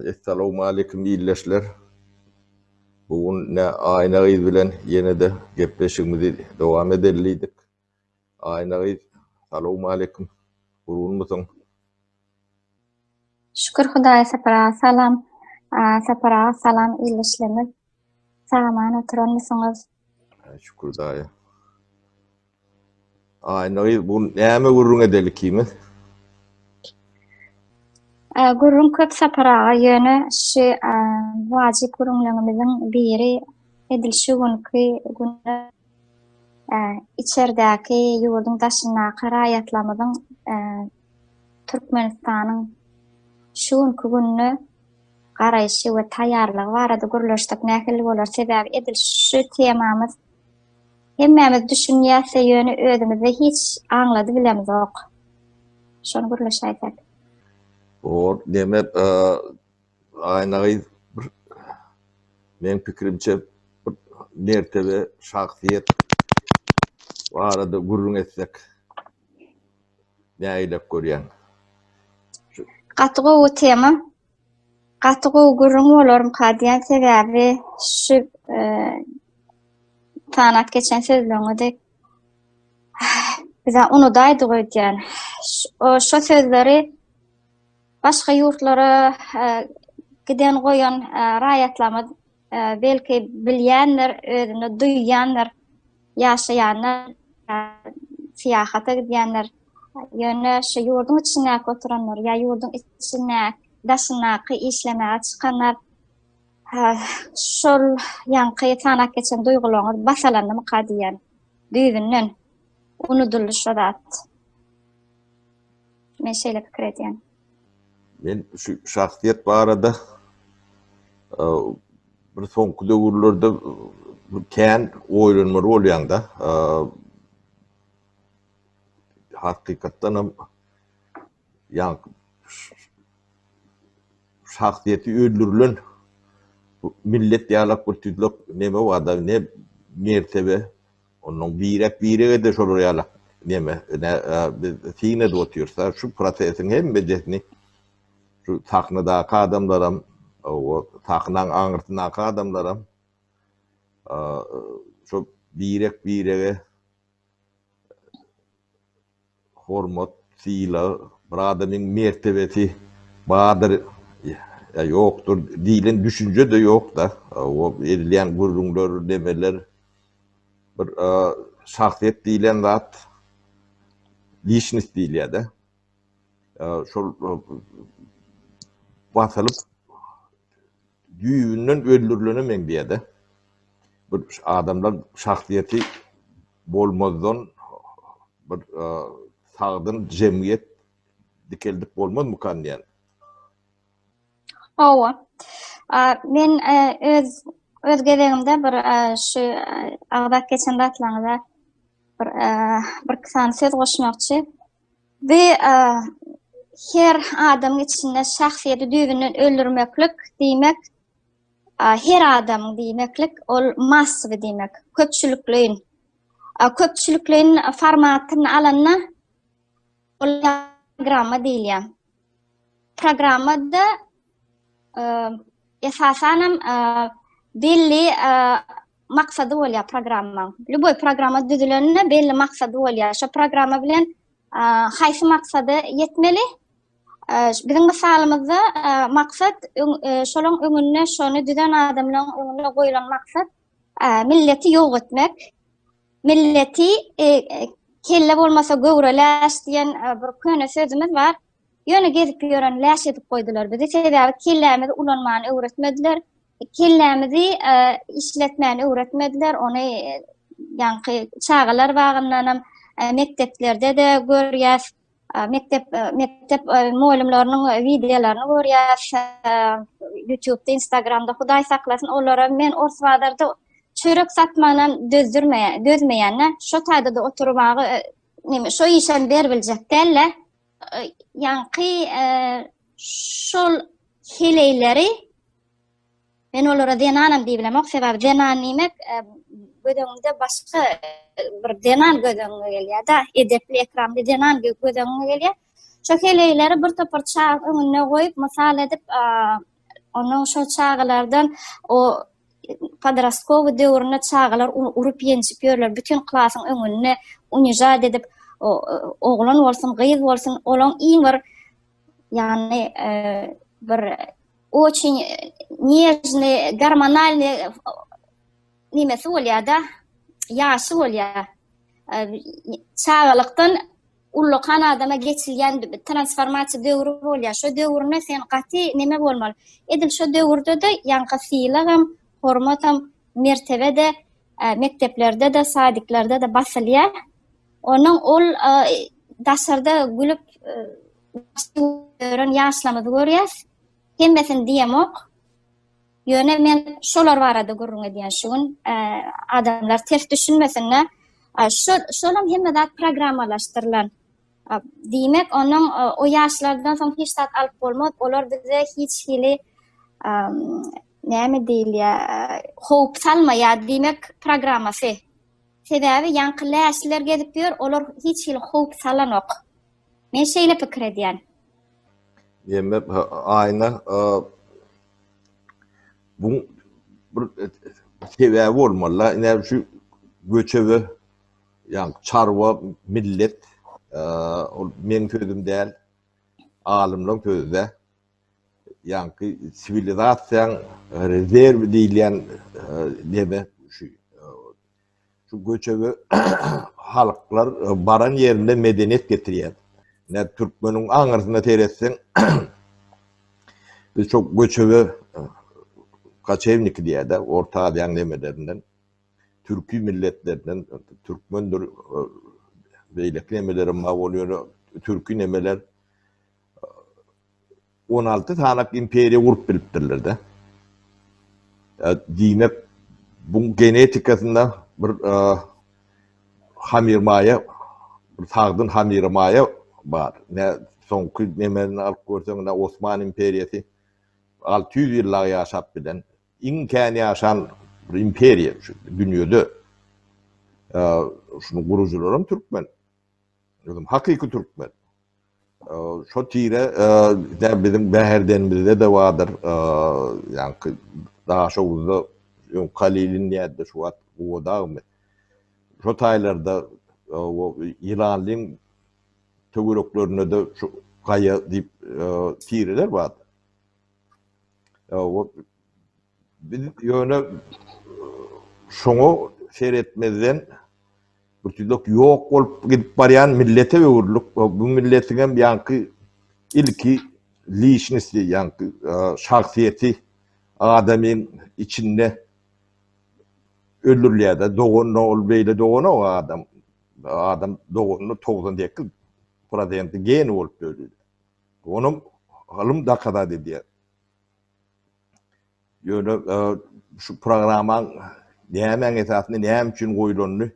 Essalowmaleýkim ildeşler. Bu gün ne Aýna gyz bilen ýene-de gepleşigimizi dowam edeli diýdik. Aýna gyz, salowmaleýkim. Gurgunmysyň? Şükür Hudaýa Sapar aga salam. Sapar aga salam ildeşlerimiz sag-aman oturanmysyňyz? Şükür daýy. Aýna gyz, bu näme gürrüň edeli ikimiz? Ä, Ee, Gürrüň köp Sapar aga, ýöne şu ä, wajyp gürrüňlerimiziň biri edil şu günki güne ä, içerdäki ýurduň daşyndaky raýatlarymyzyň ä, Türkmenistanyň şu günki gününe garaýşy we taýýarlygy barada gürleşsek nähili bolar, sebäbi edil şu temamyz hemmämiz düşünýäsde ýöne özümizde hiç aňlady bilemzok. Şony gürleşäýsek. Bor, demek, Aýna gyz bir meň pikirimçe bir mertebe, şahsyýet barada gürrüň etsek. Nägilek görýäň. Gaty gowy tema. Gaty gowy gürrüň bolarmyka diýen sebäbi şu sanat geçen sözleriňe de bize unudaýdyk öýdýän. Şo sözleri başga ýurtlara giden goýan raýatlarymyz belki bilýändir, özünde duýýandyr, ýaşaýanlar, syýahata gidýänler, ýöne şu ýurduň içindäki oturanlar ýa ýurduň içinde daşyndaky işlemäge çykanlar şol ýaňky sanap geçen duýgularyňyz bas alandymyka diýýän. Düýbünden unudyldy şo zat. Men şeýle pikir edýän. Men şu şahsyýet barada bir soňky döwürlerde kän oýlanmaly bolýan-da. Hakykatdan hem ýa şahsyýeti öldürilen millet ýalak bir tüýlek neme bar-da, ne mertebe, Ondan birek biregede şolar ýaly neme ne biz syn edip otyrsa şu prosesiň hemmejesini şu sahnadaky adamlaram o sahnaň aňyrsyndaky adamlaram şo birek birege Hormat, sylag, bir adamyň mertebesi bardyr ýa ýokdur diýlen düşünje-de ýok-da. O edilýän gürrüňler, nemeler bir şahsyýet diýlen zat, lişnost diýilýär-de, şol basylyp, düýbünden öldürilene meňzeýär-de. Bir adamlar şahsyýeti bolmazdan bir sagdyn jemgyýet dikeldip bolmazmykan diýen. Hawa. Men öz öz gezegimde bir şu agzap geçen zatlaryňyza bir bir iki sany söz goşmakçy. Bu her adamyň içinde şahsyýeti düýbünden öldürmeklik diýmek Her adam diýmeklik ol massowy diýmek, köpçülikleýin. Köpçülikleýin formatyny alanda olara programma diýilýär. Programmada e, esasan hem e, belli e, maksady bolýar programmaň. Lüboý programma düzülende belli maksady bolýar. Şo programma bilen Haýsy maksada ýetmeli? Biziň mysalymyzda maksat şolaň öňünde şony düzen adamlaň öňünde goýlan maksat milleti ýok etmek. Milleti kelle bolmasa göwre läş diýen bir köne sözümiz bar. Ýöne gezip ýören läş edip goýdular bizi. Sebäbi kellämizi ulanmany öwretmediler. Kellämizi işletmäni öwretmediler, ony ýaňky çagalar bagyndanam, mekdeplerde-de görýäs, mekdep mekdep mugallymlarynyň wideolaryny görýäs, ýutubda, instagramda, Hudaý saklasyn, olara men ors bazarda çörek satmanam dözdürmeýän, dözmeýän-ä, şo taýda-da oturyp agy, neme, şo işem ber biljek däl-ä, Ýaňky şol heleýleri Men olara zenanam diýip bilemok, sebäbi zenan diýmek e, göz öňünde başga bir zenan göz öňüne gelýär da, edepli, ekramly zenan göz öňüne gelýär. Şu heleýleri bir topar çag öňünde goýup, mysal edip, Onuň şol çagalardan o podrastkowy döwründe çagalar urup-ýenjip ýörler, bütin klasyň öňünde unijat edip, oglan bolsun, gyz bolsun, olaň iň bir ýagny bir oçin nežny, gormonalny nimesi bolýar-da, ýaşy bolýar. Çagalykdan Ullakan adama geçilýän transformasiýa döwri bolýar. Şo döwründe sen gaty neme bolmaly. Edil şo döwürde-de ýaňky sylagam, hormatam, mertebe-de mekdeplerde-de, sadiklerde-de basylýar. Onuň ol daşarda gülüp ýören ýaşlarymyzy görýäs. Hemmesini diýemok. Ýöne men şolar barada gürrüň edýän şu gün, adamlar ters düşünmesinler. Şol, şolam hemme zat programmalaşdyrylan. Diýmek, onuň o ýaşlardan soň hiç zat alyp bolmaz. Olar bize hiç hili näme diýilýär, howp salmaýar. Diýmek, programmasy. Sebäbi ýaňky läşler gezip ýör, olar hiç hili howp salanok. Men şeýle pikir edýän. Diýmek, aýna Bu bir sebäbi bolmaly. Ine şu göçebe ýa çarwa millet ol meň sözüm däl. Alymlaryň sözü-de. Ýa-ki siwilizasiýaň rezerwi diýilýän neme şu Şu göçebe halklar baran ýerinde medeniýet getirýär. Näme türkmeniň aňyrsyna seretseň biz şu göçebe kaçewniki diýýär-de, Orta Aziýanyň nemelerinden, türki milletlerinden, türkmendir, beýleki nemelerem bar bolýar, türki nemeler On alty sanap imperiýa gurup bilipdirler-de. Diýmek, buň genetikasynda bir hamyrmaýa, bir sagdyn hamyrmaýa bar. Nä soňky nemeni alyp görseň, ine, Osman imperiýasy alty ýüz ýyllap ýaşap bilen, iň kän ýaşan bir imperiýa şu dünýede. Şunuň gurujylary hem türkmen. Özüm hakyky türkmen. Şo tire de biziň bäherdenimizde-de bardyr. Ýaňky Daşoguzda öň Kalilin diýerdi, şu wagt Guwadagmy. Şo taýlarda ýylanlyň töwereklerinde-de şu gaýa diýip tireler bardy. Biz ýöne şoňa seretmezden birtüýlek ýok bolup gidip barýan millete öwrüldik. Bu milletiň hem ýaňky ilki liçnosti, ýaňky şahsyýeti adamyň içinde öldürilýär-de. Doganda ol beýle doganok adam. Adam doganda togsan sekiz prosenti geni bolup döredilýär. Onam ylym dokazat edýär. Ýöne şu programmaň nämäň esasynda, näme üçin goýulanyny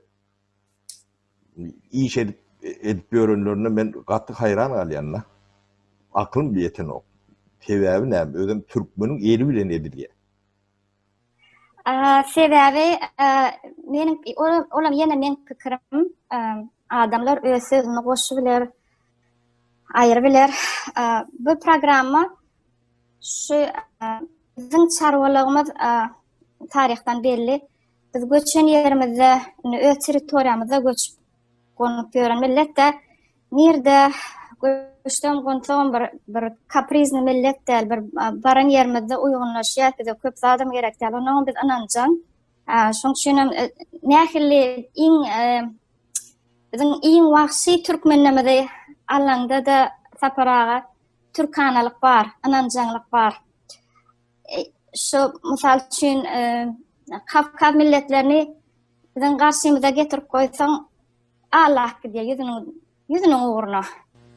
iş edip edip ýörenlerine men gaty haýran galýan-da. Aklym ýetenok. Sebäbi näme? Özem türkmeniň eli bilen edilýär. Sebäbi meniň olam ýene meň pikirim, adamlar öz sözüni goşy biler, aýry biler. Bu programma şu biziň çarwalygymyz taryhdan belli. Biz göçen ýerimizde, öz territoriýamyzda göçüp gonup ýören milletde nirde göçsem gonsagam bir bir kaprizni millet däl bir baran ýerimizde uýgunlaşýas bize köp zadam gerek däl onam biz ynanjaň şoň üçin hem e, nähili iň e, biziň iň wagşy türkmenimizi alanda da saparaga türkanalyk bar ynanjaňlyk bar e, şu mysal üçin e, kafka milletlerini Biziň garşymyza getirip goýsaň, Allap gidýär ýüzüniň, ýüzüniň ugruna.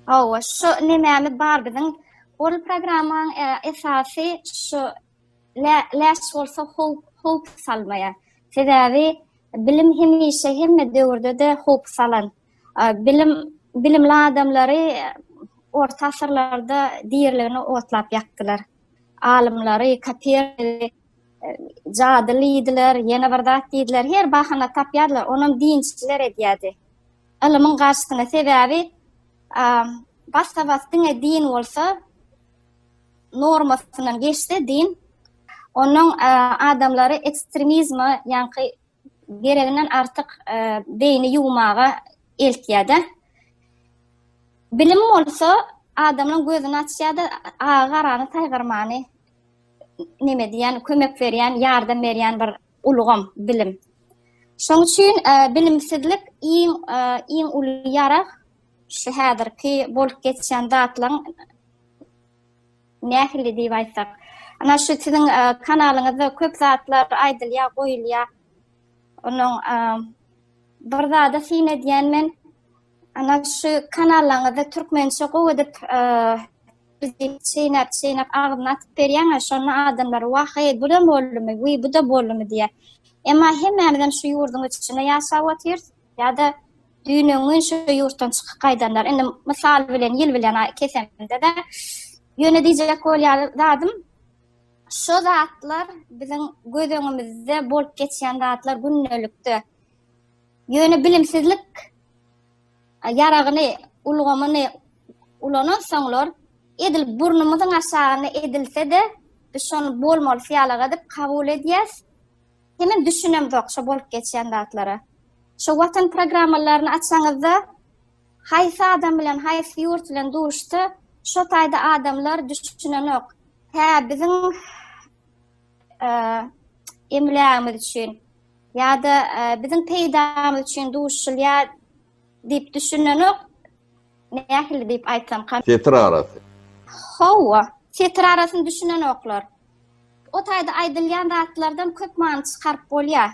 Hawa, şu nemämiz bar biziň, ol programmaň esasy şu lä, läş bolsa howp, howp salmaýar. Sebäbi bilim hemişe hemme döwürde-de howp salan. Bilim, bilimli adamlary orta asyrlarda diriligine otlap ýakdylar. Alymlary, Kopernigy, Jadyly iýdiler, ýene bir zat diýdiler, her bahana tapýardylar, onam dinçiler edýärdi. Ylymyň garşysyna sebäbi bassa bas diňe din bolsa normasyndan geçse din ondan adamlary ekstremizme ýaňky gereginden artyk beýni ýuwmaga eltýär-de. Bilim bolsa adamyň gözüni açýar-da, agy-garany saýgarmany neme diýýän, kömek berýän, ýardam berýän bir ulgam bilim. Şonuň üçin bilimsizlik iň iň uly ýarag şu häzirki bolup geçýän zatlaryň Nähili diýip aýtsak, ana şu siziň kanalyňyzda köp zatlar aýdylýar, goýulýar. Onuň bir zada syn edýän men, ana şu kanallaryňyzda türkmençe gowy edip çeýnäp çeýnäp agzyna atyp berýäň şonda adamlar wah eý bu da boldumy wiý bu da boldumy diýýär. Emma hemmämizem şu ýurduň içinde ýaşap otyrys. ýa-da düýn öňňin şu ýurtdan çykyp gaýdanlar. Indi mysal bilen ýyl bilen kesemde-de ýöne diýjek bolýan zadym şu zatlar biziň göz öňümizde bolup geçýän zatlar gündelikde. Ýöne bilimsizlik ýaragyny, ulgamyny ulanan soňlar edil burnumyzyň aşagyna edilse-de biz şony bolmalysy ýalyk edip kabul edýäs. Hemem düşünemzok şo bolup geçýän zatlara. Şo watan programmalaryny açaňyzda haýsy adam bilen haýsy ýurt bilen duşsa şo taýda adamlar düşünenok. Hä biziň emlägimiz üçin ýa-da biziň peýdamyz üçin duşulýar diýip düşünenok. Nähili diýip aýtsam. Setir arasy. Hawa, setir arasyny düşünenoklar. O taýda aýdylýan zatlardan köp many çykaryp bolýar,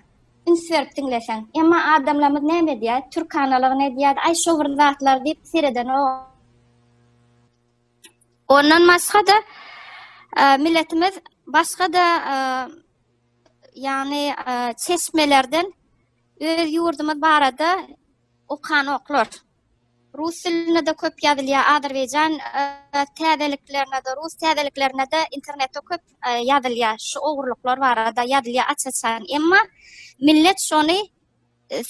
üns berip diňleseň. Emma adamlarymyz näme edýär? Türk analygyny edýär-de, aý şo bir zatlar diýip seredenok. Ondan başga-da, milletimiz başga-da ýagny çeşmelerden öz ýurdumyz barada okanoklar. Rus dilinde-de köp ýazylýar, Azerbaýjan täzeliklerine-de, rus täzeliklerine-de internetde köp ýazylýar. Şu ogurlyklar barada ýazylýar aç-açan. Emma millet şony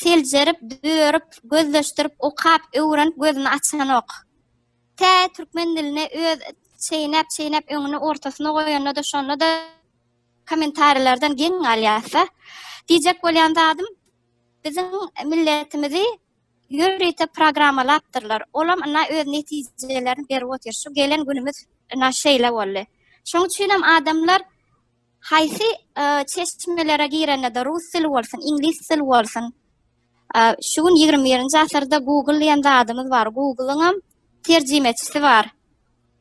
seljerip, dörüp, gözleşdirip, okap, öwrenip gözüni açanok. Tä türkmen dilini öz çeýnäp-çeýnäp öňüne ortasyna goýanda-da şonda-da kommentariýalardan geň galýarsa, diýjek bolýan zadym, biziň milletimizi ýörite programmalapdyrlar. Olam ynha öz netijelerini berip otyr. Şu gelen günümiz ynha şeýle boldy. Şoň üçinem adamlar haýsy çeşmelere girende-de rus dili bolsun, iňlis dili bolsun, şu gün ýigrimi birinji asyrda Google diýen zadymyz bar. Google-yňam terjimeçisi bar.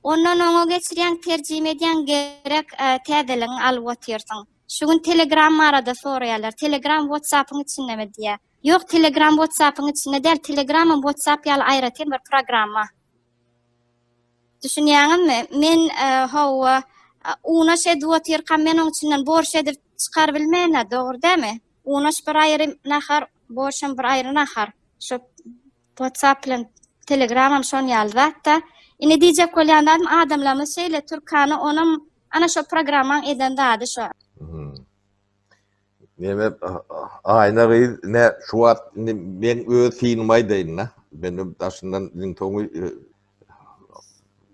Ondan oňa geçirýäň, terjime edýäň, gerek täzeligini alyp otyrsyň. Şu gün Telegram barada soraýarlar. Telegram WhatsApp-yň içindemi diýýär. Ýok telegram whatsappyň içinde däl telegramam whatsapp ýaly aýratyn bir programma. Düşünýäňizmi? Men hawa unaş edip otyrkam men oň içinden borş edip çykar bilmena dogry dämi? Unaş bir aýry nahar borşam bir aýry nahar. Şu whatsapp bilen telegramam şon ýaly zatda. Ine diýjek bolýan zadym adamlarymyz şeýle türkany onam ana şo programmaň eden zady şo. Meme Aýna gyz ne şu wagt indi men öz synymy aýdaýyn-da. Men daşyndan iň soňy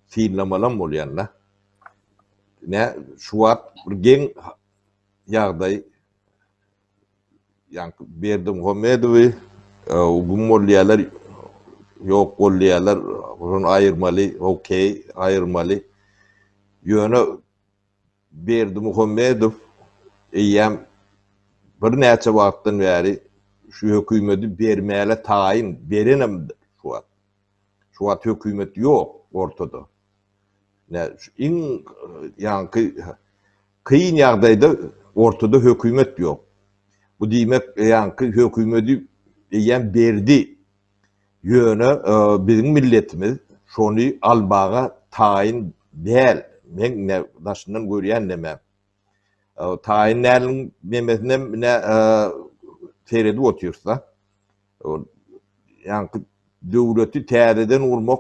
synlamalam bolýan-da. Ne şu wagt bir geň ýagdaý ýa Berdimuhamedowy güm bolýarlar, ýok bolýarlar, şony aýyrmaly, okey, aýyrmaly. Ýöne Berdimuhamedow eýýäm birnäçe wagtdan bäri şu hökümeti bermäle taýyn, berenem şu wagt. Şu wagt hökümet ýok ortada. Nä, iň ýaňky kyn ýagdaýda ortada hökümet ýok. Bu diýmek, ýaňky hökümeti eýýäm berdi. Ýöne biziň milletimiz şony almaga taýyn däl. Meň ine daşyndan görýän nemem. Taýyn däliniň memesinem ine seredip otyrys-da. Ol ýaňky döwleti täzeden gurmak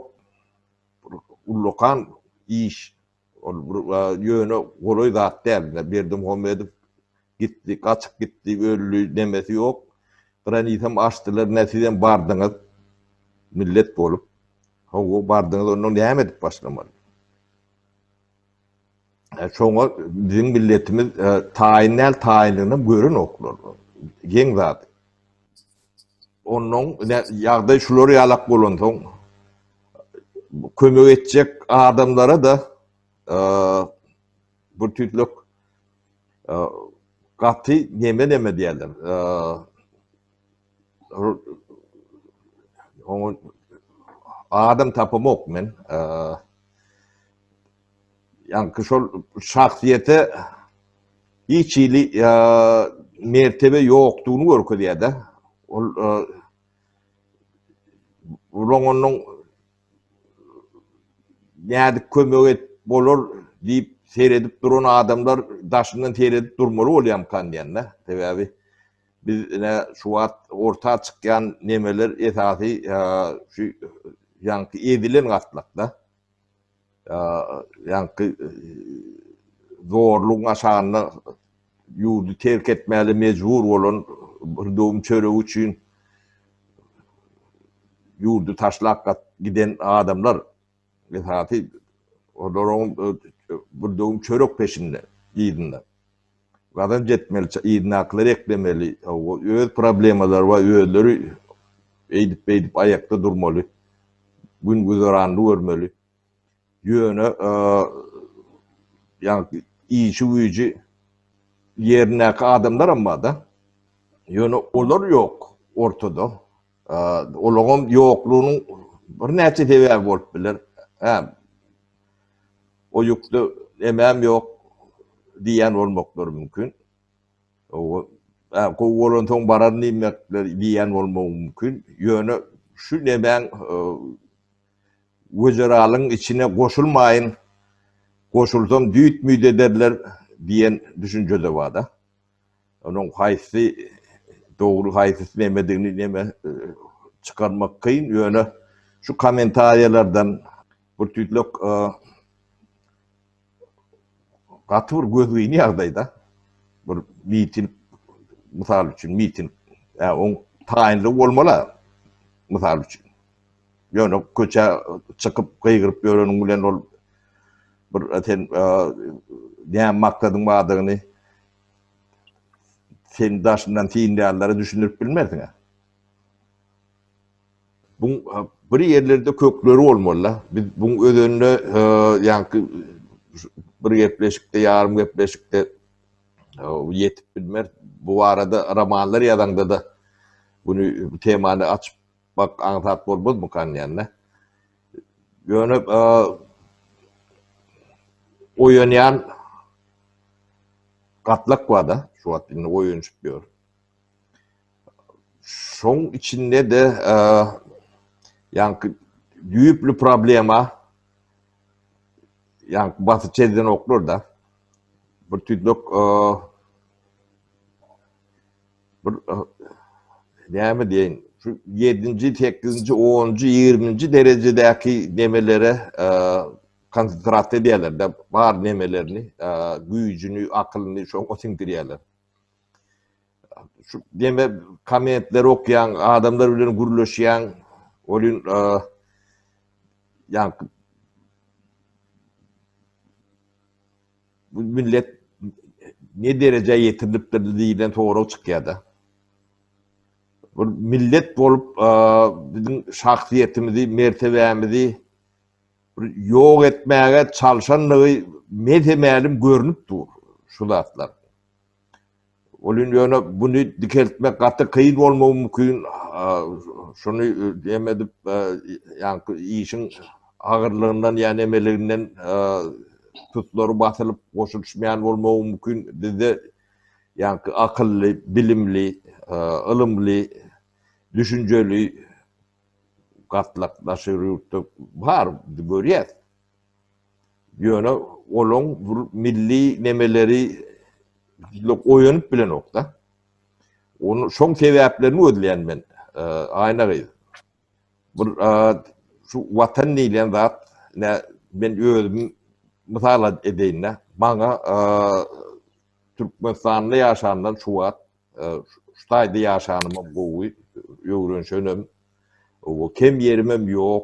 ullakan iş. Ol bir ýöne golaý zat däl. Berdimuhamedow gitdi, gaçyp gitdi, öldi, nemesi ýok. Granitam açdylar, nä sizem bardyňyz millet bolup. Hawa, bardyňyz, onda näme edip başlamaly? Şoňa biziň milletimiz taýyn däl, taýynlygynam görenoklar. Geň zat. Onnoň ýagdaý şular ýalak bolansoň kömek etjek adamlara-da bir tüýtlük gaty neme-neme diýerler. Oňa adam tapamok men. Ýaňky şol şahsyýete hiç hili mertebe ýokdugyny görkezýär-de. Ol Bular onuň nädip kömek et bolar diýip seredip duran adamlar daşyndan seredip durmaly bolýamkan diýende. Sebäbi biz ine şu wagt orta çykýan nemeler esasy şu ýaňky ezilen gatlakda. ýaňky zorlugyň aşagynda ýurdy terk etmäle mejbur bolan bir döwüm çöregi üçin ýurdy taşlap giden adamlar esasy olaryň bir döwüm çörek peşinde yzynda. Gazanç etmeli, ça, yzyndakylary eklemeli, o, öz problemalary bar, özleri eýdip-beýdip aýakda durmaly, gün-güzeranyny görmeli. Ýöne, a, ýagny, işi-güýji ýerindäki adamlaram bar-da. Ýöne olar ýok ortada. Olaňam ýoklugynyň birnäçe sebäbi bolup biler. Hä. O ýükde emem ýok diýen bolmaklary mümkin. O hä gowy bolansoň baran diýmekler diýen bolmagy mümkin. Ýöne şu nemäň wezeralyň içine goşulmaýyn, goşulsam düýt-müýt ederler diýen düşünje-de bar-da. Onuň haýsy dogry, haýsy nemedigini neme çykarmak kyn, ýöne şu kommentariýalardan bir tüýtlek gaty bir gözgyny ýagdaýda bir miting, mysal üçin miting, ýa oň taýynlygy bolmaly-a, mysal üçin. Ýöne köçä çykyp gygyryp ýöreniň bilen ol bir sen ne maksadyň bardygyny sen daşyndan synlaýanlara düşündirip bilmersiň. Bu bir ýerlerde kökleri bolmaly. Biz bu özünde ýa-da bir gepleşikde, ýarym gepleşikde ýetip bilmer. Bu barada romanlar ýazaňda-da bu temany açyp Bak aňsat bolmazmykan diýende. Ýöne oýanýan gatlak bar-da, şu wagt indi oýanyşyp ýör. Şoň içinde-de ýaňky düýpli problema ýaňky basy çezdenoklar-da. Bir tüýdük Bir näme diýeýin, şu ýedinji, sekizinji, onunjy, ýigriminji derejedäki nemelere konsentrasiýa edýärler-de, bar nemelerini, güýjüni, akylyny şoňa siňdirýärler. Şu neme kommentleri okýaň, adamlar bilen gürleşýäň, welin ýa Bu millet ne derejä ýetirilipdir diýlen sorag çykýar-da. Bir millet bolup biziň şahsyýetimizi, mertebämizi bir ýok etmäge çalşandygy mese-mälim görnüp dur şu zatlar. Ol indi ýöne buny dikeltmek gaty kyn bolmagy mümkin. Şuny jem edip, ýaňky işiň agyrlygyndan ýa nemeliginden tutlary basylyp goşulyşmaýan bolmagy mümkin. Bizde ýaňky akylly, bilimli, ylymly, düşünjeli gatlak daşary ýurtda bar, görýäs. Ýöne olaň bir milli nemeleri oýanyp bilenok-da. Ony şoň sebäplerini gözleýän men, Aýna gyz. Bir şu Watan diýlen zat, ine, men özümi mysal edeýin-dä. Maňa Türkmenistanda ýaşandan şu wagt, şu taýda ýaşanymam gowy, öwrenişenem, kem ýerimem ýok.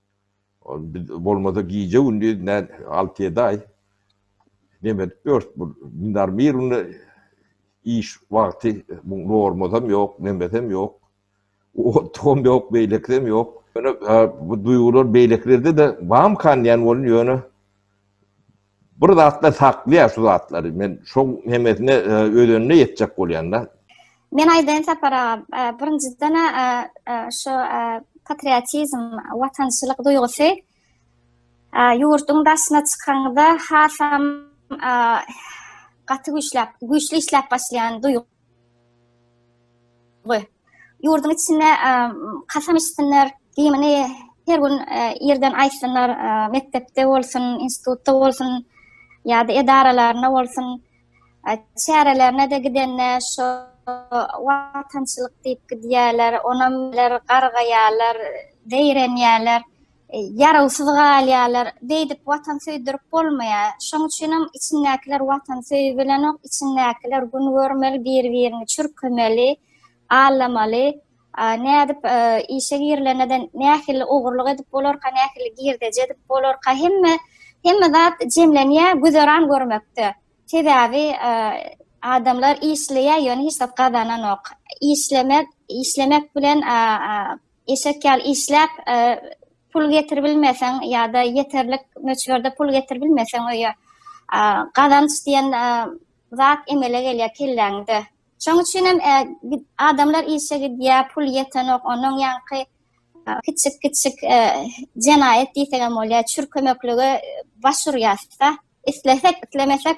Biz bolmasa gije-gündiz nä alty ýedi aý neme edip ýörüs bu dinar mirinde iş wagty bu normasam ýok nemesem ýok otugam ýok beýlekisem ýok ýöne bu duýgular beýlekilerde-de bamykan diýen boldum ýöne Bir zatda saklýar şu zatlary. Men şoň hemmesine e, özenine ýetjek bolýanda. Men aýdaýyn Sapar aga, birinjiden şu patriotizm, watançylyk duýgusy ýurduň daşyna çykanda hasam gaty güýçläp, güýçli işläp başlaýan duýgy Goý. Ýurduň içinde kasam içsinler, gimini her gün ýerden e, aýtsynlar, e, mekdepde bolsun, institutda bolsun, ýa-da edaralarynda bolsun, e, çärelerine-de gidende şu watançylyk diýip gidýärler, onam gargaýarlar, zeýrenýärler. ýarawsyz galýarlar. Beýdip watan söýdürip bolmaýar. Şoň üçinem içindäkiler watan söýübilenok, içindäkiler gün görmeli, bir-birini çürkemeli, allamaly. Nädip işe girilende-de nähili ogurlyk edip bolarka, nähili girdeji edip bolarka, hemme hemme zat jemlenýär güzeran görmekde. Sebäbi adamlar işleýär, ýöne hiç zat gazananok. Işlemek, işlemek bilen Eşek ýaly işläp, e, pul getirip bilmeseň ýa-da ýeterlik möçberde pul getirip bilmeseň öýe, e, gazanç diýen e, zat emele gelýär kelläňde. Şoň üçin hem e, adamlar işe gidýär, pul ýetenok, onuň ýaňky kiçik kiçik e, jenaýat diýsegem bolýar, çürkemeklige baş urýarys-da. Islesek, islemesek,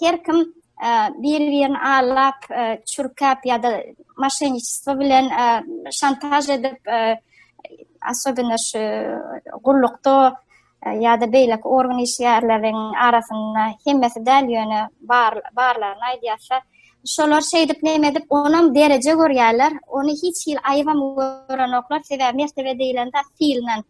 Her kim bir-birini allap, çürkäp ýa-da maşenniçestvo bilen şantaž edip, asobina şu gullukda ýa-da beýlek organ işgärleriň arasynda hemmesi däl ýöne barlaryny aýdýarsa, şolar şeýdip neme edip onam dereje görýärler, ony hiç hili aýybam görenoklar, sebäbi mertebe diýlen zat syýlnan.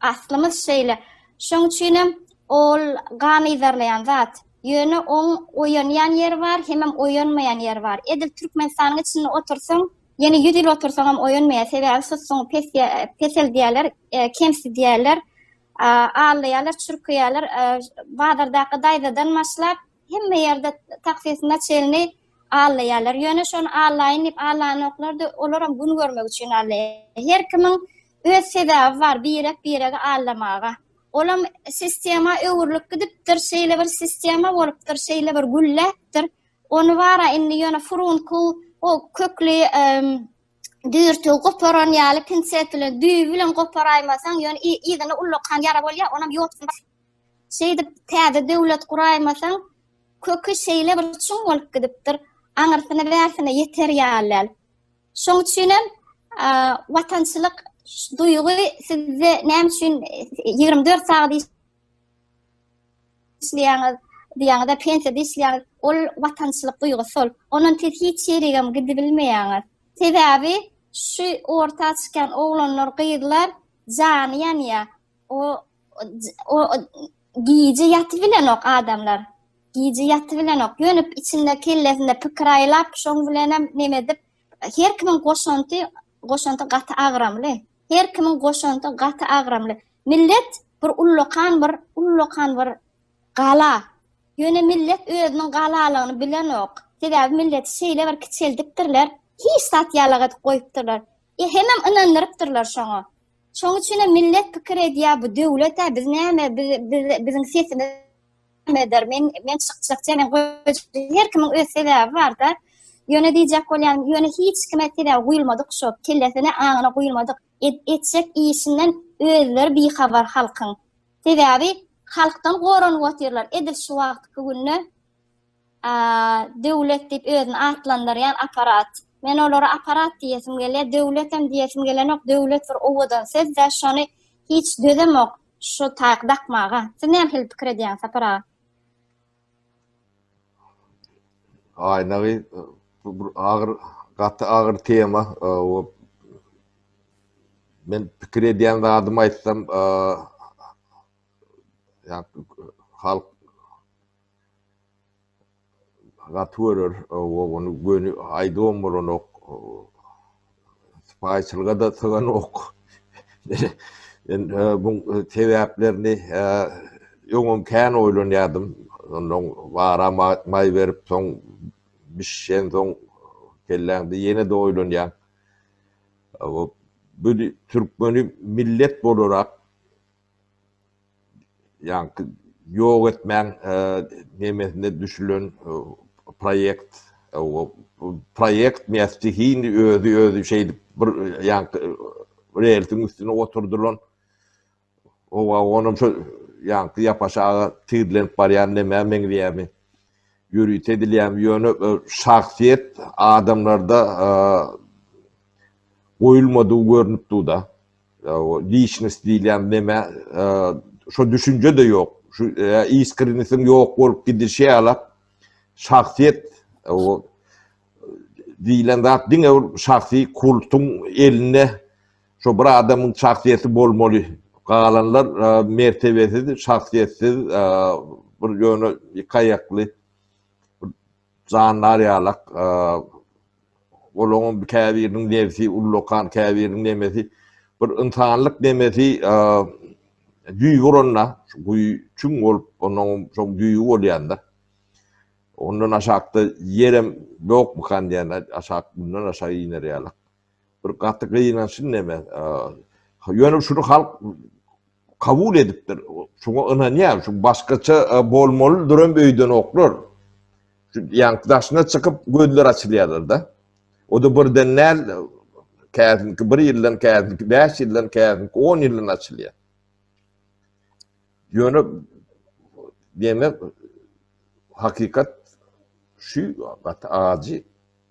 Aslymyz şeýle. Şoň üçinem ol gan yzarlaýan zat. Ýöne oň oýanýan ýeri bar, hemem oýanmaýan ýeri bar. Edil Türkmenistanyň içinde otursaň, ýene ýüz ýyl otursaňam oýanmaýar. Sebäbi susuňy pes peseldýärler, kemsidýärler, allaýarlar, çürkeýärler. Bazardaky daýzadan başlap, Hemme ýerde taksis naçelni allaýarlar. Ýöne şony allaýyn diýip allanoklar-da, olaram gün görmek üçin allaýar. Her kimiň öz sebäbi bar birek-biregi allamaga. Olam sistema öwrülip gidipdir, şeýle bir sistema bolupdyr, şeýle bir gülläpdir. Ony bara indi ýöne furunku o kökli düýrtügi goparan ýaly pinset bilen, düýbi bilen goparaýmasaň, ýöne yzyny ullakan ýara bolýar, onam ýotgun basýar. Şeýdip, täze döwlet guraýmasaň, köki şeýle bir çuň bolup gidipdir, aňyrsyny-bärsini ýeter ýaly däl. Şoň üçin hem watançylyk duýgy sizde näme üçin ýigrimi dört sagat işleýäňiz, diýýäňiz-de, pensiýada işleýäňiz, ol watançylyk duýgusy ol. Ondan siz hiç ýerigem gidibilmeýäňiz. Sebäbi şu orta çykýan oglanlar, gyzlar jany ýanýar. O o gije ýatyp bilenok adamlar. Gije ýatyp bilenok. Ýöne içinde kellesinde pikir aýlap, şoň bilen hem neme edip, her kimiň goşanty, goşanty gaty agramly. Her kimiň goşanty gaty agramly. Millet bir ullakan bir, ullakan bir gala. Ýöne millet özüniň galalygyny bilenok. Sebäbi millet şeýle bir kiçeldipdirler, hiç zat ýalak edip goýupdyrlar. E hemem ynandyrypdyrlar şoňa. Şoň üçinem millet pikir edýär bu döwlet-ä biz näme biziň sesimiz nämedir men men çykjakça men her kimiň öz sebäbi barda ýöne diýjek bolýan ýöne hiç kime sebäbi guýulmadyk şo kellesine aňyna guýulmadyk etjek işinden özleri bihabar halkyň sebäbi halkdan goranyp otyrlar edil şu wagtky günde Döwlet diýip özüni atlandyrýan apparat. Men olara apparat diýesim gelýär, döwletem diýesim gelenok, döwlet bir owadan söz-dä, şony hiç dözemok şu taýak dakmaga. Siz nähili pikir edýäňiz, Sapar aga? Aýnagy bu bir agyr, gaty agyr tema. Men pikir edýän zadymy aýtsam, ýa halk Gaty görer ogany göni aýdybam bolanok. Sypaýyçylyga-da syganok. Men bu sebäplerini öňem kän oýlanýardym. Onnoň bara maý berip soň bişişensoň kelläňde ýene-de oýlanýaň. Bu türkmeni millet bolarak ýaňky ýok etmäň nemesine düşülen proýekt proýekt me stihini özi özi şeýdip bir ýaňky relsiň üstüne oturdylan owa onuň şu ýaňky ýapaşaga tirlenip barýan nämä meňzeýärmi ýörite edilýärmi ýöne şahsyýet adamlarda goýulmadygy görnüp dur da Liçnost diýilýän neme, şo düşünje-de ýok. Şu iskrenisiň ýok bolup gidişi ýala şahsyýet diýilen zat diňe bir şahsy kultuň elinde şo bir adamyň şahsyýeti bolmaly. Galanlar mertebesiz, şahsyýetsiz bir ýöne ýykaýakly. Jandar ýalak, olaňam käbiriniň nebsi ullakan, käbiriniň nemesi bir ynsanlyk nemesi düýbi uranda, şu guýy çüň bolup, onuňam şoň düýbi bolýanda, ondan aşakda ýerem ýokmykan diýýän, aşak mundan aşak iner ýalak. bir gaty gynançly neme. Ýöne şuny halk kabul edipdir. Şuňa ynanýar. Şu başgaça bolmaly duran öýden oklar. Şu ýaňky daşyna çykyp gözler açylýarlar-da. O da birden näl käzinki bir ýyldan, käzinki 5 ýyldan, käzinki 10 ýyldan açylýar. Ýöne demek hakikat şu gaty ajy.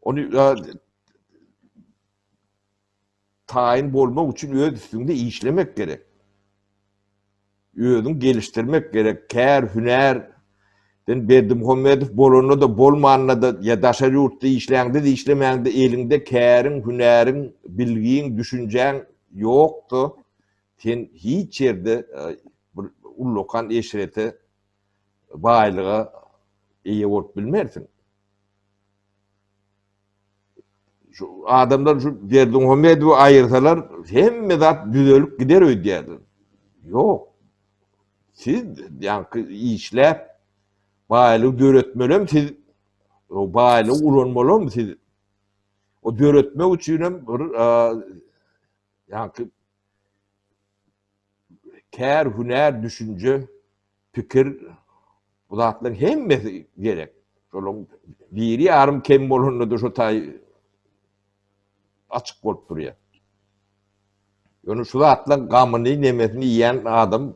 Ony taýyn bolmak üçin öz üstüňde işlemek gerek. Özüň gelişdirmek gerek. Kär, hünär, sen Berdimuhammedow bolanda da, bolmanda da, ya daşar yurtda işlende de, işlemende de, elinde kärin, hünärin, bilgin, düşüncän yoktu. Sen hiç yerde bir ullokan eşrete, baylıga eye olup bilmersin. Şu adamlar şu Berdimuhamedowy aýyrsalar, hemme zat düzelip gider öýdýärler. Ýok. Siz ýaňky işläp baýlygy döretmelem siz baýlygy ulanmalam siz. O döretmek üçin hem bir ýaňky kär, hünär, düşünje, pikir, bu zatlaryň hemmesi gerek. Şolaryň biri ýarym kem bolanda-da şu taý açyk bolup durýar. Ýöne şu zatlaryň gamyny, nemesini iýen adam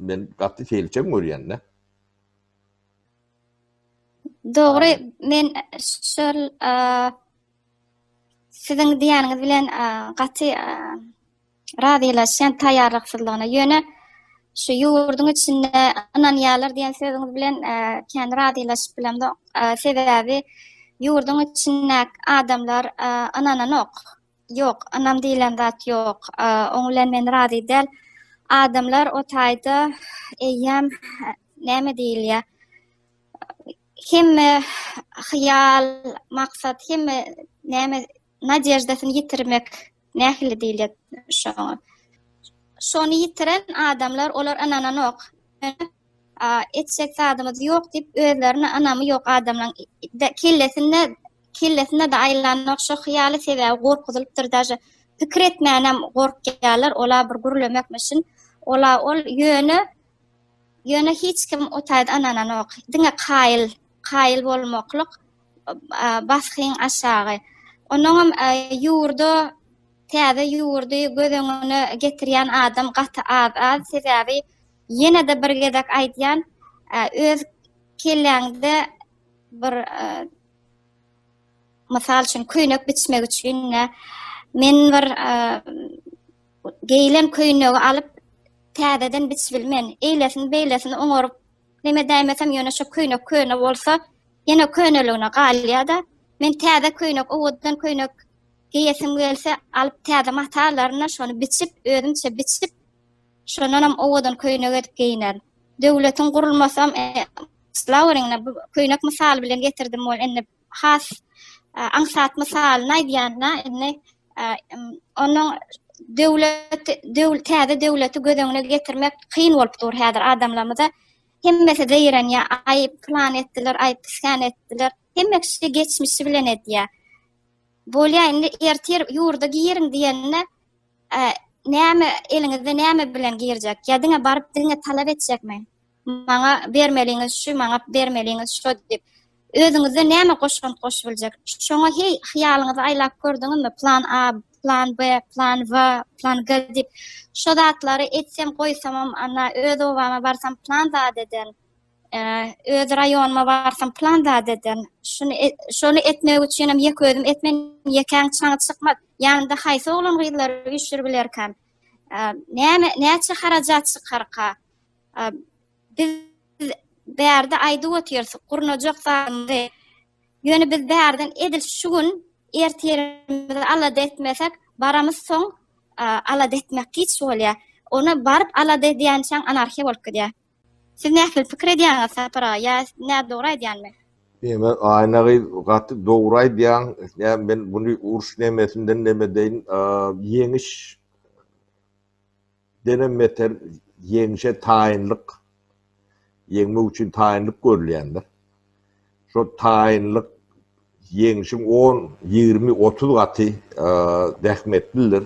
men gaty selçeň görýän-de. Dogry, men şol Siziň diýýäniňiz bilen gaty razylaşýan taýýarlyksyzlygyna. Ýöne şu ýurduň içinde ynanýarlar diýen sözüňiz bilen kän razylaşyp bilemzok. Sebäbi ýurduň içindäki adamlar ynananok. Ýok, ynam diýlen zat ýok. Oň bilen men razy däl. Adamlar o taýda eýýäm näme diýilýär? hemme hyýal, maksat, hemme näme nadejdasyny ýitirmek nähili diýilýär şoňa. Şony ýitiren adamlar olar ynananok. Etjek zadymyz ýok diýip özlerine ynamy ýok adamlaryň kellesinde kellesinde de aýlanok şo hyýaly sebäbi gorkuzylypdyr daže pikir etmänem gorkýarlar ola bir gürlemekmişin ola ol ýöne Ýöne hiç kim o taýda ynananok. Diňe kaýyl, kaýyl bolmaklyk basgyň aşagy. Onuňam ýurda täze ýurdy göz öňüne getirýän adam gaty az-az. Sebäbi ýene-de bir gezek aýdýan, öz kelläňde bir mysal üçin köýnek biçmek üçin men bir geýilen köýnegi alyp, täzeden biçbilmen, eýlesini-beýlesini oňaryp, neme däýmesem, ýöne şu köýnek köne bolsa, ýene köneligine galýar-da. Men täze köýnek, owadan köýnek geýesim gelse, alyp täze mata alaryn-da, şony biçip, özümçe biçip, şondanam owadan köýnek edip geýnerin. Döwletiň gurulmasam, e, Slaweriňe bu köýnek mysaly bilen getirdim, ol indi has aňsat mysalyny aýdýanda, indi onuň döwlet, döwlet, täze döwleti göz öňüne getirmek kyn bolup dur häzir adamlarymyza. Hemmesi zeýrenýär, aý, plan etdiler, aý, plan etdiler. Hemme kişi geçmişi bilen edýär. Bolýar, indi ertir ýurda giriň diýende, näme eliňizde näme bilen girjek? Ýa diňe baryp diňe talap etjekmi? Maňa bermeliňiz şu, maňa bermeliňiz şo diýip, özüňizden näme goşgant goşup biljek? Şoňa heý hyýalyňyzy aýlap gördüňizmi? Plan A, plan B, plan W, plan G diýip, şo zatlary etsem, goýsamam, anna öz obama barsam plan zat eden, öz raýonyma barsam plan zat eden. Şuny, şony etmek üçin hem ýek özüm etmen, ýekäň çaňy çykmaz. Ýanynda haýsy oglan-gyzlary üýşürip bilerkäm? Näme, näçe harajat çykarka? Biz bärde aýdyp otyrys, gurnajak zadymyzy. Ýöne biz bärden edil şu gün ertirimizi alada etmesek, baramyz soň alada etmek giç bolýar. Ony baryp alada edýänçäň anarhiýa bolup gidýär. Siz nähili pikir edýäňiz Sapar aga? Ýa nä dogry aýdýanmy? Neme Aýna gyz gaty dogry aýdýaň. Nä men buny uruş nemesinden nemedeýin? Ýeňiş Denem beter ýeňşe taýynlyk, ýeňmek üçin taýynlyk görülýändir. Şo taýynlyk ýeňşiň on, ýigrimi, otuz gaty zähmetlidir.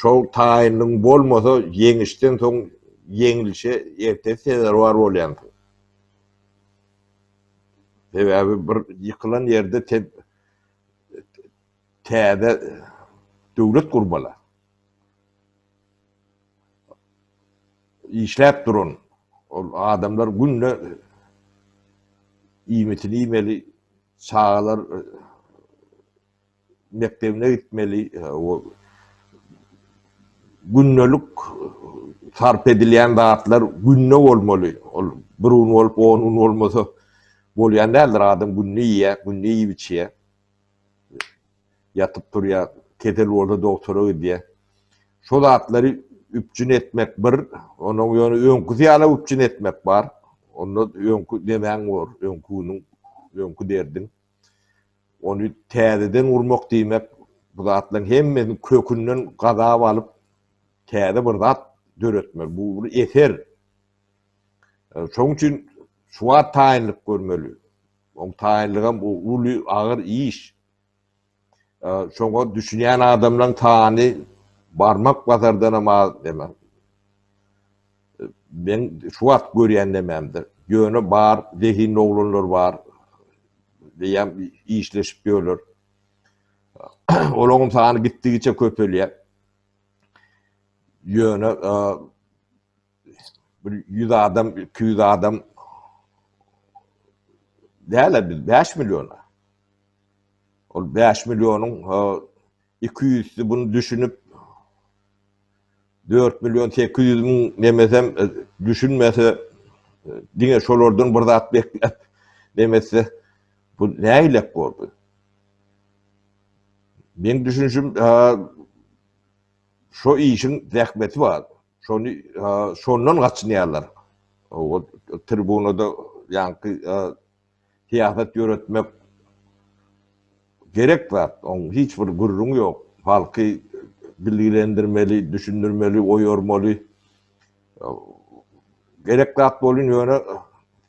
Şol taýynlygyň bolmasa, ýeňişden soň ýeňilişe ertesi sezerwar bolýansyň. Sebäbi bir ýykylan ýerde Täze döwlet gurmaly. Işläp duran ol adamlar günde iýmitini iýmeli, çagalar mekdebine gitmeli, gündelik sarp edilýän zatlar günde bolmaly. Ol bir gün bolup, on gün bolmasa bolýan däldir. Adam günde iýýär, günde iýip içýär. Ýatyp turýa, kesel bolsa dogtora gidýä. Şo zatlary üpjün etmek bir, onuň ýöne öňküsi ýaly üpjün etmek bar. Onda öňki nemäň bor, öňki günüň, öňki derdiň. Ony täzeden gurmak diýmek, bu zatlaryň hemmesini kökünden gazap alyp, täze bir zat döretmek. Bu bir eser. Şonuň üçin şu wagt taýynlyk görmeli. Oň taýynlygam o uly agyr iş. Şoňa düşünýän adamlaň sany barmak bazardanam az demek. Men şu wagt görýän nememdir. Ýöne bar zehinli oglanlar bar. Diýýän işleşip ýörler. Olaň sany gitdigiçe köpelýär. Ýöne bir ýüz adam, iki ýüz adam däl biz bäş milliona. Ol bäş millionuň iki ýüzsi bunu düşünip dört million sekiz ýüz müň nemesem e, düşünmese e, diňe şolardan bir zat bekläp nemese bu näýlek boldy. Men düşünşim şu işin zähmeti bar. Şony şondan gaçynýarlar. O tribunada ýaňky syýasat ýöretmek gerek zat. Oň hiç bir gürrüň ýok. Halky bilgilendirmeli, düşündirmeli, oýarmaly. Gerek zat bolýan ýöne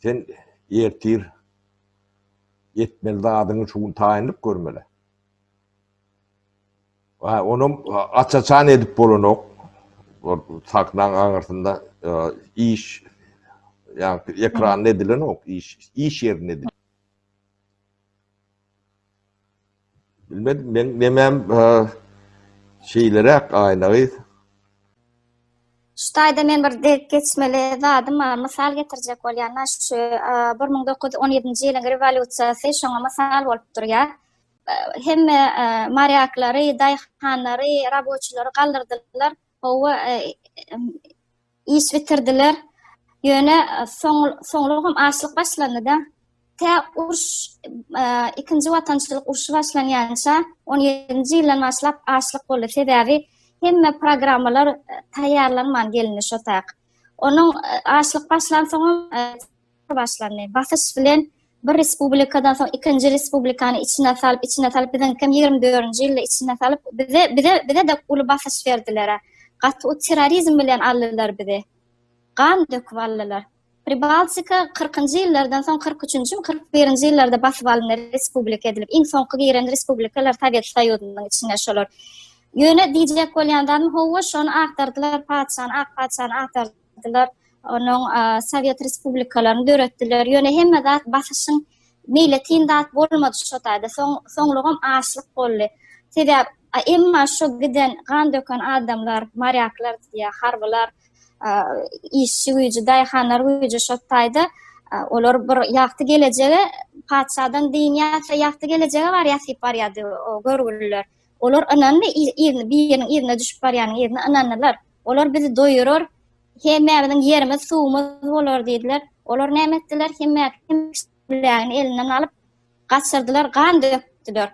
sen ertir etmeli zadyňy şu gün taýynlyk görmeli. Hä, onam aç-açan edip bolanok. Ol sahnaň aňyrsynda iş, ýagny ekranda edilenok, iş, iş ýerinde edilýär. Bilmedim, men nemem şeýleräk Aýna gyz. Şu taýda men bir dek geçmeli zadym bar, mysal getirjek bolýan, şu bir müň dokuz ýüz on ýedinji ýylyň rewolýusiýasy şoňa mysal bolup durýar. hemme marýaklary, daýhanlary, raboçilary galdyrdylar. Howa iş bitirdiler. Ýöne soňlugam açlyk başlandy-da. Tä uruş, ikinji watançylyk urşy başlanýança, on ýedinji ýyldan başlap açlyk boldy. Sebäbi hemme programmalar taýýarlanman gelindi şo tak. Onuň açlyk başlansoňam, başlandy. Basyş bilen bir respublikadan soň ikinji respublikany içine salyp, içine salyp biziňkem ýigrimi dördünji ýylda içine salyp bize bize bize-de uly basyş berdiler. Gaty o terrorizm bilen aldylar bizi. Gan döküp aldylar. Pribaltika 40-njy ýyllardan soň 43-njimi, 41-nji ýyllarda basyp alyndy respublika edilip. Iň soňky giren respublikalar Sowet Soýuzynyň içine şolar. Ýöne diýjek bolýan zadym, hawa, şony agtardylar, patyşany, ak patyşany agtardylar. ýasadylar, onuň Sowet respublikalaryny döretdiler. Ýöne hemme zat basyşyň meýletin zat bolmady şo taýda. Soň soňlugam açlyk boldy. Sebäp emma şo giden gan döken adamlar, marýaklar diýýär, harbylar, işçi güýji, daýhanlar güýji şo taýda olar bir ýagty gelejege patyşadan dynýar, ýa-da ýagty gelejege bar ýasyp barýardy o görgüliler. Olar ynandy, biriniň yzyna düşüp barýanyň yzyna ynandylar. Olar bizi doýurar, hemmämiziň ýerimiz, suwumyz bolar diýdiler. Olar näme etdiler? Hemmämiziň elinden alyp, gaçyrdylar, gan dökdüler.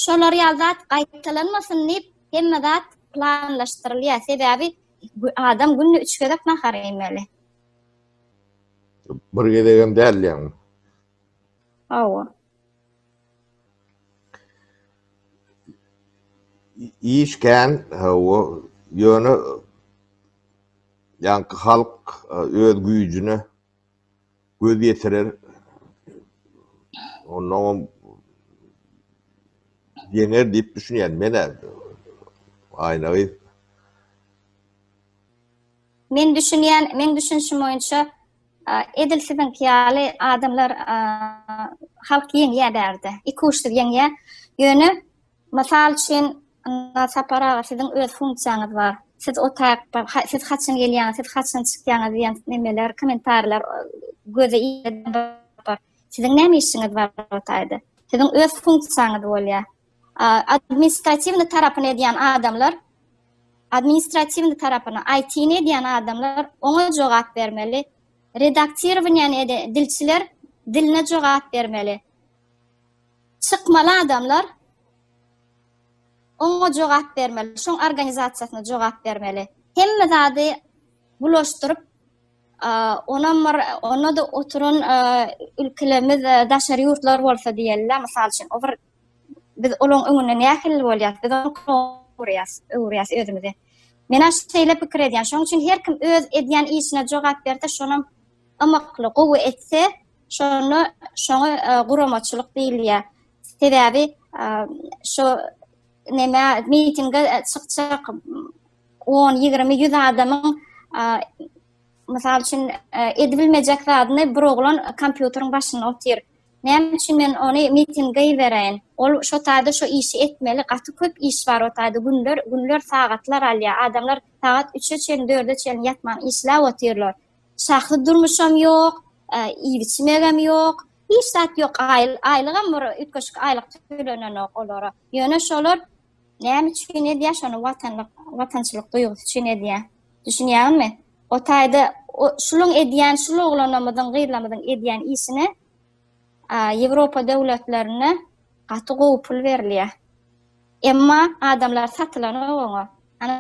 Şolar ýaly zat gaýtalanmasyn diýip, hemme zat planlaşdyrylýar. Sebäbi adam günde üç gezek nahar iýmeli. Bir gezegem däl diýýäňmi? Hawa. Iş kän, hawa, ýöne ýaňky halk öz güýjüne göz ýetirer, onnoňam ýeňer diýip düşünýän men-ä, Aýna gyz. Men düşünýän, meň düşünişim boýunça Edil siziňki ýaly adamlar halk ýeňýär bärde. Iki uçsyz ýeňýär. Ýöne mysal üçin Sapar aga siziň öz funksiýaňyz bar. Siz otak, siz haçan gelýäňiz, siz haçan çykýaňyz diýen nemeler, kommentariýalar göze ilende Siziň näme işiňiz bar o taýda? Siziň öz funksiýaňyz bolýar. administratiwny tarapyny edýän adamlar, administratiwny tarapyny, IT-ni edýän adamlar oňa jogap bermeli. Redaktirowaniýany edýän dilçiler diline jogap bermeli. Çykmaly adamlar oňa jogap bermeli, şoň organizasiýasyna jogap bermeli. Hemme zady bulaşdyryp, onam bir, onda-da oturan ülkelerimiz, daşary ýurtlar bolsa diýeli, mysal üçin, o bir Biz olaň öňünde nähili bolýas? Biz onuň öwürýäs, öwürýäs özümizi. Men aş şeýle pikir edýän. Şoň üçin her kim öz edýän işine jogap berse, şonam ymykly, gowy etse, şonda şoňa e, guramaçylyk diýilýär. Sebäbi e, şu näme mitinge e, çykjak 10, 20, 100 adamyň mysal üçin edibilmejek zadyny bir oglan kompýuteriň başynda otyr. Näme üçin men ony mitin gybereýin? Ol şo taýda şo işi etmeli, gaty köp iş bar o taýda, günler, günler sagatlar alýar. Adamlar sagat üçe çenli, dörde çenli ýatman işläp otyrlar. Şahsy durmuşam ýok, iýip-içmegem ýok. Hiç zat ýok, aýlygam bir üýtgeşik aýlyk tölenenok olara. Ýöne şolar Näme üçin edýär şony watanlyk, watançylyk duýgusy üçin edýär. Düşünýäňizmi? O taýda şulyň edýän, şul oglanymyzyň, gyzlarymyzyň edýän işine Ýewropa döwletlerinde gaty gowy pul berilýär. Emma adamlar satylanok oňa. Ana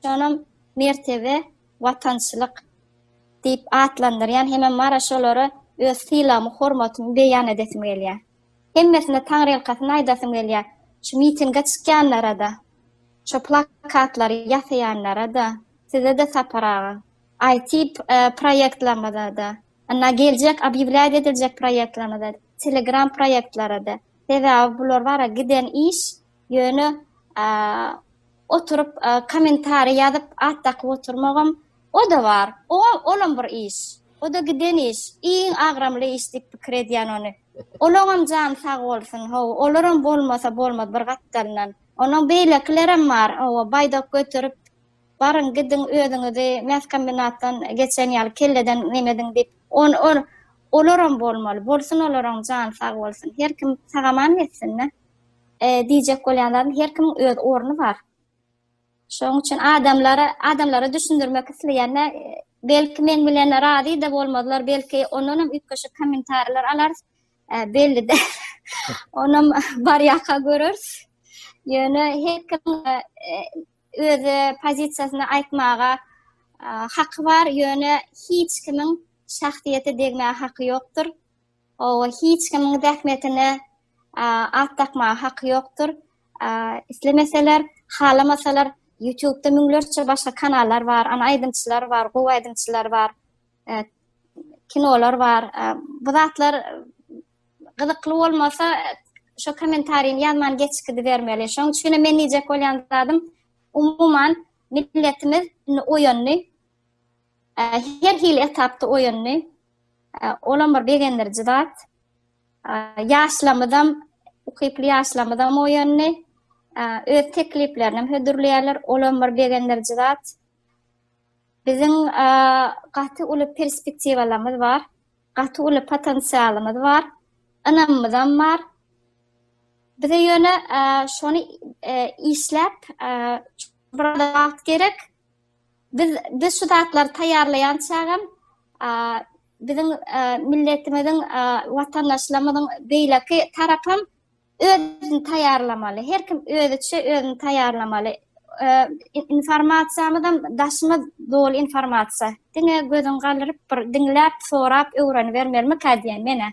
şonam mertebe, watançylyk diýip atlandyrýan hemem mara şolara öz sylagmy, hormatymy beýan edesim gelýär. Hemmesine taňrylkasyny aýdasym gelýä. Şu mitinge çykýanlara-da, şo plakatlary ýasaýanlara-da, size-de Sapar aga, IT proýektlaryňyza-da, ynha geljek obýewlýat ediljek proýektlaryňyza, Telegram proýektlara-da, sebäbi bular bara giden iş, Ýöne oturyp kommentariý ýazyp at dakyp oturmagam oda bar. Olam bir iş. Oda giden iş. Iň agramly iş diýip pikir edýän ony. Olaňam jany sag bolsun. Hawa, olaram bolmasa bolmaz bir gapdalyndan. Ondan beýlekilerem bar. Hawa, baýdak göterip baryň gidiň özüňizi mäskombinatdan geçen ýaly kelleden nemediň diýip. Olaram bolmaly. Bolsun olaram jany sag bolsun. Her kim sagaman geçsin-dä. diýjek bolýanlarym her kimiň öz orny bar. Şonuň üçin adamlara adamlara düşündirmek isleýände belki men bilen razy-da bolmazlar, belki ondan hem üýtgeşik kommentariýalar alarys. Belli däl. Onam barýaka göreris. Ýöne her kim öz pozisiýasyny aýtmaga haky bar, ýöne hiç kimiň şahsyýete degmäge haky ýokdur. Oba hiç kimiň zähmetine at dakmaga haky ýokdur. Islemeseler, halamasalar ýutubda müňlerçe başga kanallar bar, ana aýdymçylar bar, gowy aýdymçylar bar, kinolar bar. Bu zatlar gyzykly bolmasa şo komentariýny ýazman geçip gidibermeli. Şoň üçin hem men diýjek bolýan zadym umuman milletimiz indi oýandy. Her hili etapda oýandy. Olam bir begendiriji zat. Ýaşlamyzam, ukyply ýaşlamyzam oýandy. Öz tekliplerini hem hödürleýärler. Olam bir begendiriji zat. Biziň gaty uly perspektiwalarymyz bar. Gaty uly potensialymyz bar. Ynamymyzam bar. Bize ýöne şony işläp, biraz wagt gerek. Biz biz şu zatlary taýýarlaýan çagam biziň milletimiziň watandaşlarymyzyň beýleki tarapam özüni taýýarlamaly. Her kim özüçe özüni taýýarlamaly. Informasiýamyzam daşymyz doly informasiýa. Diňe gözüň galdyryp bir diňläp, sorap, öwrenibermelimi ka diýen menä.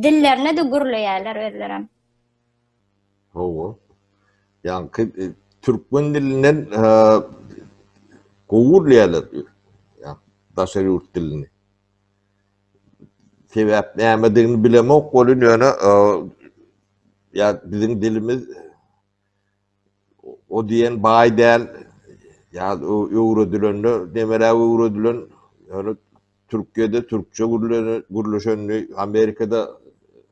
Dillerine de gürleýärler özlerem. Hawa. Ýaňky türkmen dilinden gowy bilýärler daşary ýurt dilini. Sebäp nämedigini bilemok welin ýöne ýa biziň dilimiz o diýen baý däl ýa öwredilende demeläp öwredilen ýöne Türkiýede türkçe gürleşendi, Amerikada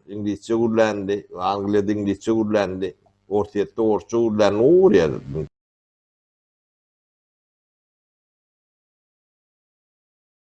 iňlisçe gürländi, Angliýada iňlisçe gürländi, Orsýetde orsça gürländi, gowy görýärler.